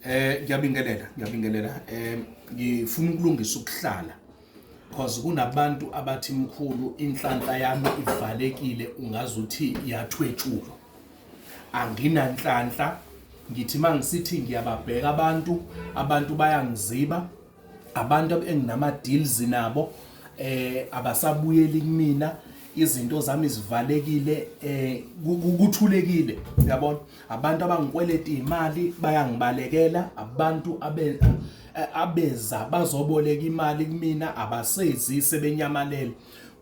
Eh ngiyabingelela ngiyabingelela eh ngifuna ukulungisa ukuhlala because kunabantu abathi mkhulu inhlanhla yami ivalekile ungazuthi iyathwetshulwa anginanhlanhla ngithi mangisithi ngiyababheka abantu abantu bayangiziba abantu enginama deals nabo eh abasabuyeli kumina izinto zami zivalekile eh kuthulekile uyabona abantu abangikweleta imali bayangibalekela abantu abe eh, abeza bazoboleka imali kumina abasezi sebenyamalele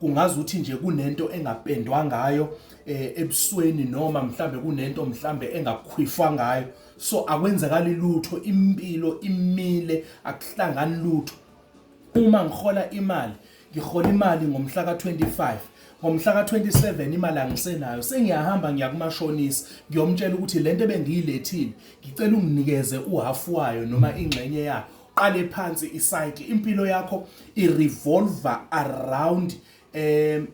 kungazi ukuthi nje kunento engapendwa ngayo eh, ebusweni noma mhlambe kunento mhlambe engakhwifwa ngayo so akwenzakali lutho impilo imile akuhlangani lutho uma ngihola imali ngihola imali ngomhla ka25 ngomhla ka27 imali angisenayo sengiyahamba ngiya kumashonisa ngiyomtshela ukuthi lento ebengiyilethile ngicela unginikeze uhalf wayo noma ingxenye yayo qale phansi icycle impilo yakho irevolver around um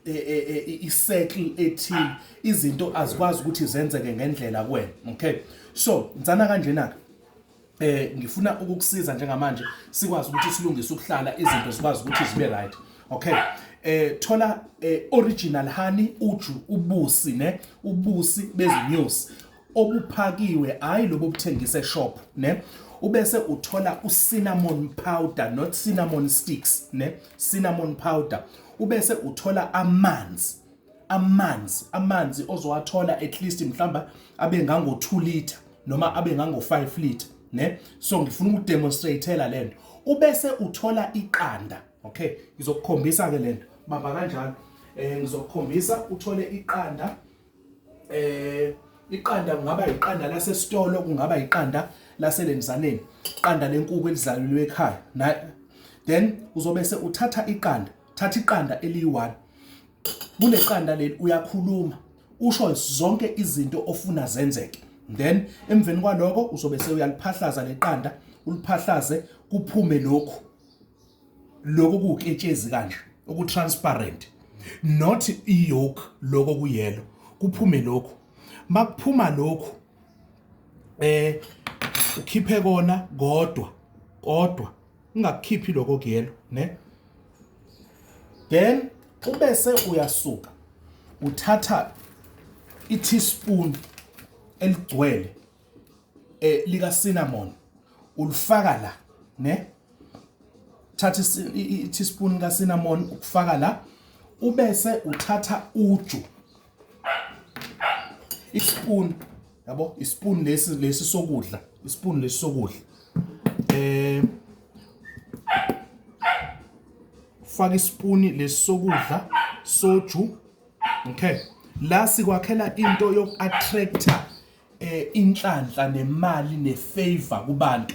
i-circle ethile izinto azikwazi ukuthi zenzeke ngendlela kuwena okay so ngithanda kanjena-ke eh ngifuna ukukusiza njengamanje sikwazi ukuthi silungise ukuhlala izinto zikwazi ukuthi zibe right okay eh thola eh, original honey uju ubusi ne ubusi bezinyosi obuphakiwe hayi lobo obuthengisa eshop ne ubese uthola ucinnamon powder not cinnamon sticks ne cinnamon powder ubese uthola amanzi amanzi amanzi ozowathola at least mhlamba abe ngango 2 liter noma abe ngango 5 liter ne so ngifuna ukudemonstrateela lento ubese uthola iqanda okay ngizokukhombisa ke lento bamba kanjalo eh ngizokukhombisa uthole iqanda eh iqanda kungaba iqanda lasesitolo kungaba iqanda laselenzaneni iqanda lenkuku elizalelwe ekhaya na then uzobe se uthatha iqanda thatha iqanda eliyi-one kule qanda leli uyakhuluma usho zonke izinto ofuna zenzeke then emveni kwaloko uzobe sewuyaliphahlaza leqanda uliphahlaze kuphume lokhu lokhu kuwuketshezi kanje okutransparent not iyoke lokho kuyelo kuphume lokhu makuphuma lokhu eh ukhiphe kona kodwa kodwa ungakukhiphi lokho kuyelo ne then ubese uyasuka uthatha i-teaspoon eligcwele eh lika cinnamon ulifaka la ne thatha i teaspoon ka cinnamon ukufaka la ubese uthatha uju ispoon yabo ispoon lesi lesi sokudla ispoon lesi sokudla eh faka ispoon lesi sokudla soju okay la sikwakhela into yoku attractor eh inhlanhla nemali nefavor kubantu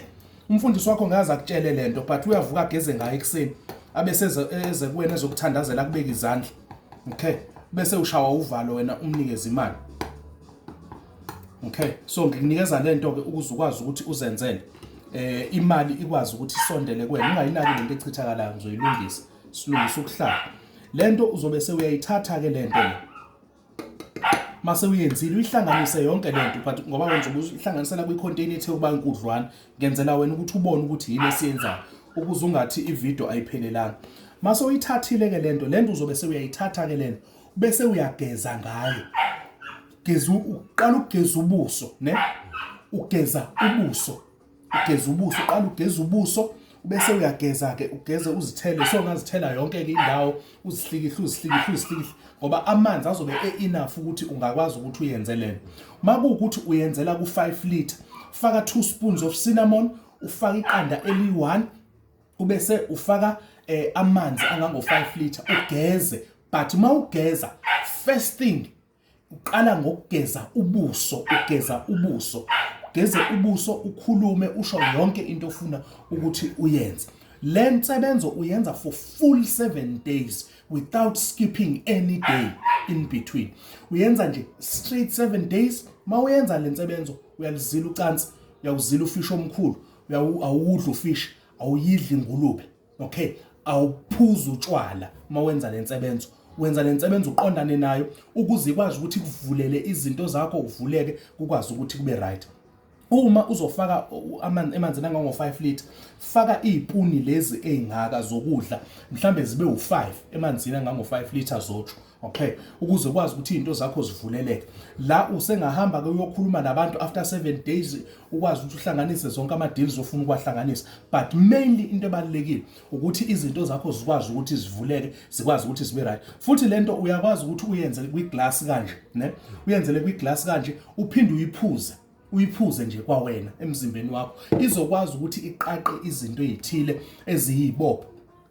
umfundisi wakho ngaze akutshele lento but uyavuka ageze ngayo ekuseni abese eze kuwena ezokuthandazela kubeka izandla okay bese ushawa uvalo wena umnikeze imali okay so ngikunikeza lento ke ukuze ukwazi ukuthi uzenzele eh imali ikwazi ukuthi isondele kuwena ungayinaki lento echithakalayo ngizoyilungisa silungisa ukuhlala lento uzobe sewuyayithatha ke lento mase uyenzile uyihlanganise yonke le nto but ngoba wenza uhlanganisela kwi-container ethe ukuba inkudlwana ngenzela wena ukuthi ubone ukuthi yini esiyenzayo ukuze ungathi ividiyo ayiphelelanga mase uyithathile-ke le nto le nto uzobe sewuyayithatha-ke le nto bese uyageza ngayo geza uqala ukugeza ubuso ne ugeza ubuso ugeze ubuso uqala ugeze ubuso bese uyageza-ke ugeze uzithele so ungazithela yonke-ke indawo uzihlikihle uzihlikihle uzihlikihle ngoba amanzi azobe e-enough ukuthi ungakwazi ukuthi uyenze lena uma kuwukuthi uyenzela ku-5 litre faka two spoons of cinnamon ufaka iqanda eliyi-one ubese ufaka eh, amanzi angango-5 litre ugeze but uma ugeza first thing uqala ngokugeza ubuso ugeza ubuso ugeze ubuso ukhulume usho yonke into ofuna ukuthi uyenze le nsebenzo uyenza for full 7 days without skipping any day in between uyenza nje straight 7 days mawuyenza le nsebenzo uyalizila ucansi uyawuzila ufishi omkhulu uyawudla ufishi awuyidli ingulube okay awuphuzi utshwala uma wenza le nsebenzo wenza le nsebenzo uqondane nayo ukuze ikwazi ukuthi kuvulele izinto zakho uvuleke kukwazi ukuthi kube right uma uzofaka amanzi emanzini angango 5 liter faka izipuni lezi ezingaka zokudla mhlambe zibe u5 emanzini angango 5 liter zotsho okay ukuze ukwazi ukuthi izinto zakho zivuleleke la usengahamba ke uyokhuluma nabantu after 7 days ukwazi ukuthi uhlanganise zonke ama deals ofuna ukwahlanganisa but mainly into ebalekile ukuthi izinto zakho zikwazi ukuthi zivuleke zikwazi ukuthi zibe right futhi lento uyakwazi ukuthi uyenze kwi glass kanje ne uyenzele kwi glass kanje uphinde uyiphuze uyiphuze nje kwawena emzimbeni wakho izokwazi ukuthi iqaqe izinto ezithile eziyibopho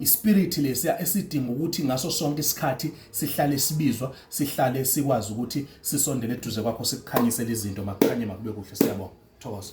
ispirit lesiya esidinga ukuthi ngaso sonke isikhathi sihlale sibizwa sihlale sikwazi ukuthi sisondele eduze kwakho sikukhanyisele izinto makukhanye makube kuhle siyabonga thokoza